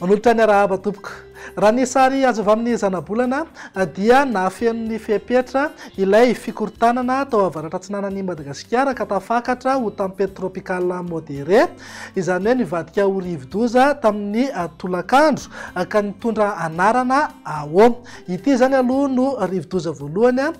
Manolotra ny arahaba tompoko. Raha ny sary azo avy amin'ny zanabolana dia nafenon'ny fepetra ilay fikorontanana tao avaratra atsinanan'i Madagasikara ka tafakatra ho tempête tropicale modérée izany hoe nivadika ho rivodoza tamin'ny tolakandro ka nitondra anarana Awo. Ity izany aloha no rivodoza voalohany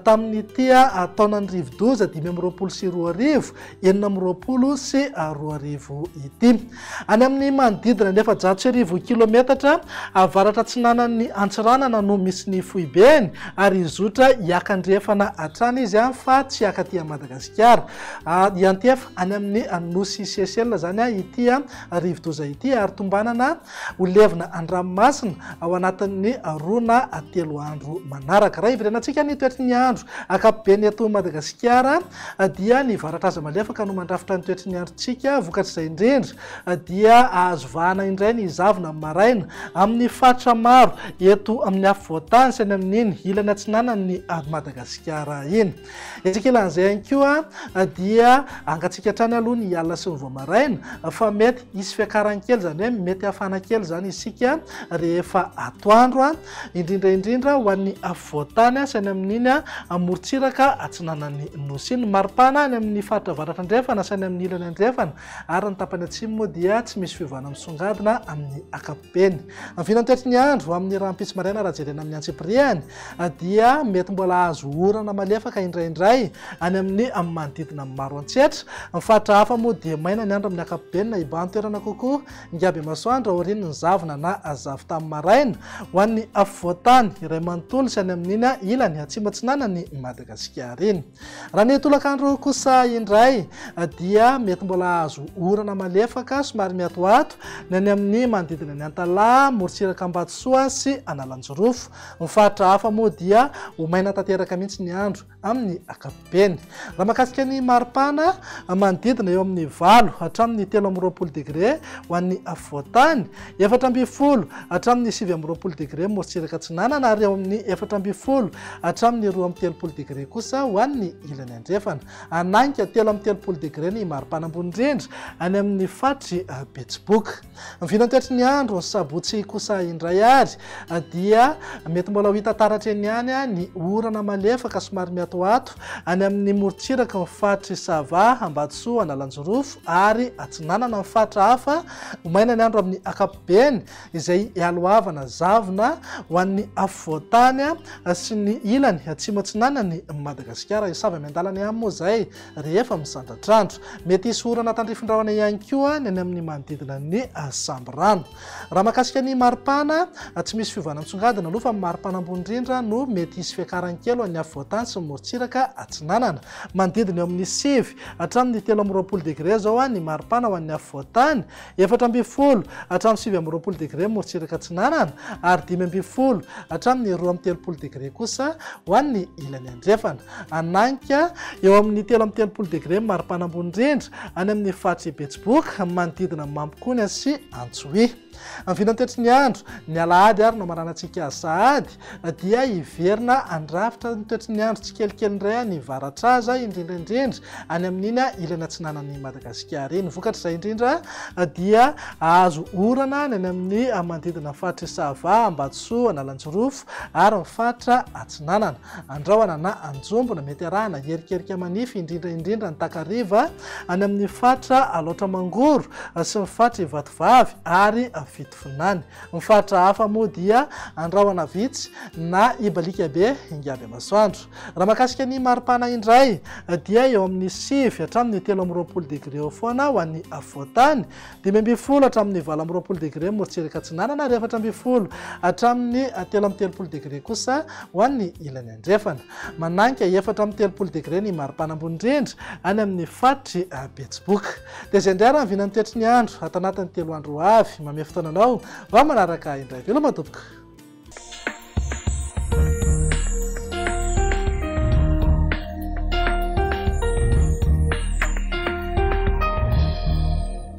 tamin'ity taonan'ny rivodoza dimy amby roapolo sy roa arivo, enina amby roapolo sy roa arivo ity. Any amin'ny manodidina ny efajato sy arivo kilometatra avaratra-atsinanan'ny Antsiranana no misy ny foibeny ary hizotra hiaka andrefana hatrany izy fa tsy hiaka aty Madagasikara. any amin'ny nosy Seychelles izany ity rivodoza ity ary tombanana ho levona an-dranomasina ao anatin'ny roa na telo andro manaraka. Raha iverena antsika ny toetry ny andro ankapobeny eto Madagasikara dia ny varatraza malefaka no mandrafitra ny toetry ny androntsika, vokatr'izay indrindra dia azo vahana indray ny zavona amin'ny maraina amin'ny faritra maro eto amin'ny afovoan-tany sy any amin'iny ilany atsinanan'ny Madagasikara iny. Isika laza ihany koa dia angatsika hatrany aloha ny alina sy ny vao maraina fa mety hisy fiakarany kely izany hoe mety hafana kely izany isika rehefa atoandro indrindra indrindra ho an'ny afovoantany sy any amin'iny amorontsiraka atsinanan'ny nosy iny. Ny maripana any amin'ny faritra avaratra andrefana sy any amin'ny ilany andrefana ary ny tapany atsimo moa dia tsy misy fiovana misongadina amin'ny ankapobeny. Beny. Ny vinantoetry ny andro amin'ny rahampitso maraina raha jerena amin'ny antsipirihany dia mety mbola hahazo orana malefaka indraindray any amin'ny manodidina ny maro an-tsetra. Ny faritra hafa moa dia maina ny andro amin'ny ankapobeny na iban-toerana kokoa ngabemasoandro aorian'ny ny zavona na zavotany maraina ho an'ny afovoan-tany iray manontolo sy any amin'iny ilany atsimo-atsinanan'i Madagasikara iny. Raha ny tolakandro kosa indray dia mety mbola hahazo orana malefaka somary miatoato ny any amin'ny manodidina ny Antalaha, morontsiraka Ambatosoa sy Analanjirofo. Ny faritra hafa moa dia ho maina tanteraka mihitsy ny andro amin'ny ankapobeny. Raha mahakasika ny maripana, manodidina eo amin'ny valo hatramin'ny telo amby roapolo degre ho an'ny afovoan-tany. Efatra ambin'ny folo hatramin'ny sivy amby roapolo degre morotsiraka atsinanana ary eo amin'ny efatra ambin'ny folo hatramin'ny roa amby telopolo degre kosa ho an'ny ilany andrefana. Hanainga telo amby telopolo degre ny maripana ambony indrindra any amin'ny faritry Betsiboka. Ny vinantoetry ny andro ny sabotsy kosa indray ary dia mety mbola ho hita taratra eny ihany ny orana malefaka somary miatoato any amin'ny morotsiraky ny faritry Sava, Ambatosoa, Analanjirofo ary atsinanana ny faritra hafa Ho maina ny andro amin'ny ankapobeny izay ialohavana zavona ho an'ny afovoan-tany sy ny ilany atsimo-atsinanan'i Madagasikara. Hisava miandalana ihany moa izay rehefa misandratr'andro. Mety hisy orana tandrifin-drahona ihany koa ny any amin'ny manodidina ny sambirano. Raha mahakasika ny maripana, tsy misy fiovana misongadina aloha fa maripana ambony indrindra no mety hisy fiakarany kely ho an'ny afovoan-tany sy ny morontsiraka atsinanana. Manodidina eo amin'ny sivy. Hatramin'ny telo amby roapolo degre izao ny maripana ho an'ny afovoan-tany, efatra ambin'ny folo hatramin'ny sivy amby roapolo degre morontsiraka atsinanana ary dimy ambin'ny folo hatramin'ny roa amby telopolo degre kosa ho an'ny ilany andrefana. Hanainga eo amin'ny telo amby telopolo degre ny maripana ambony indrindra any amin'ny faritry Betsiboka, manodidina Mampikony sy Antsohihy. Ny vinantetry ny andro, ny alahady ary no mananantsika sahady dia hiverina handrafitra ny toetry ny andro tsikelikely indray any Varatraza, indrindra indrindra any amin'iny ilany atsinanan'i Madagasikara iny. Vokatr'izay indrindra dia hahazo orana ny any amin'ny manodidina ny faritr'i Sava, Ambatosoa, Analanjirofo ary ny faritra atsinanana. Andrahona na anjombona, mety arahana hierikerika manify indrindra indrindra ny takariva any amin'ny faritra Alaotra Mangoro sy ny faritra Ivatovavy ary Fitovinany. Ny faritra hafa moa dia andrahona vitsy na ibaliaka be hinga be masoandro. Raha mahakasika ny maripana indray dia eo amin'ny sivy hatramin'ny telo amby roapolo degre eo foana ho an'ny afovoan-tany, Dimy ambin'ny folo hatramin'ny valo amby roapolo degre morotsirak'i Atsinanana ary efatra ambin'ny folo hatramin'ny telo amby telopolo degre kosa ho an'ny ilany andrefana. Manainga efatra amby telopolo degre ny maripana ambony indrindra any amin'ny faritr'i Betsiboka. Dia izay indray ary ny vinan'ny toetry ny andro ato anatin'ny telo andro ho avy. Mamehy fotoana anao vao manaraka ahy indray. Veloma tompoko!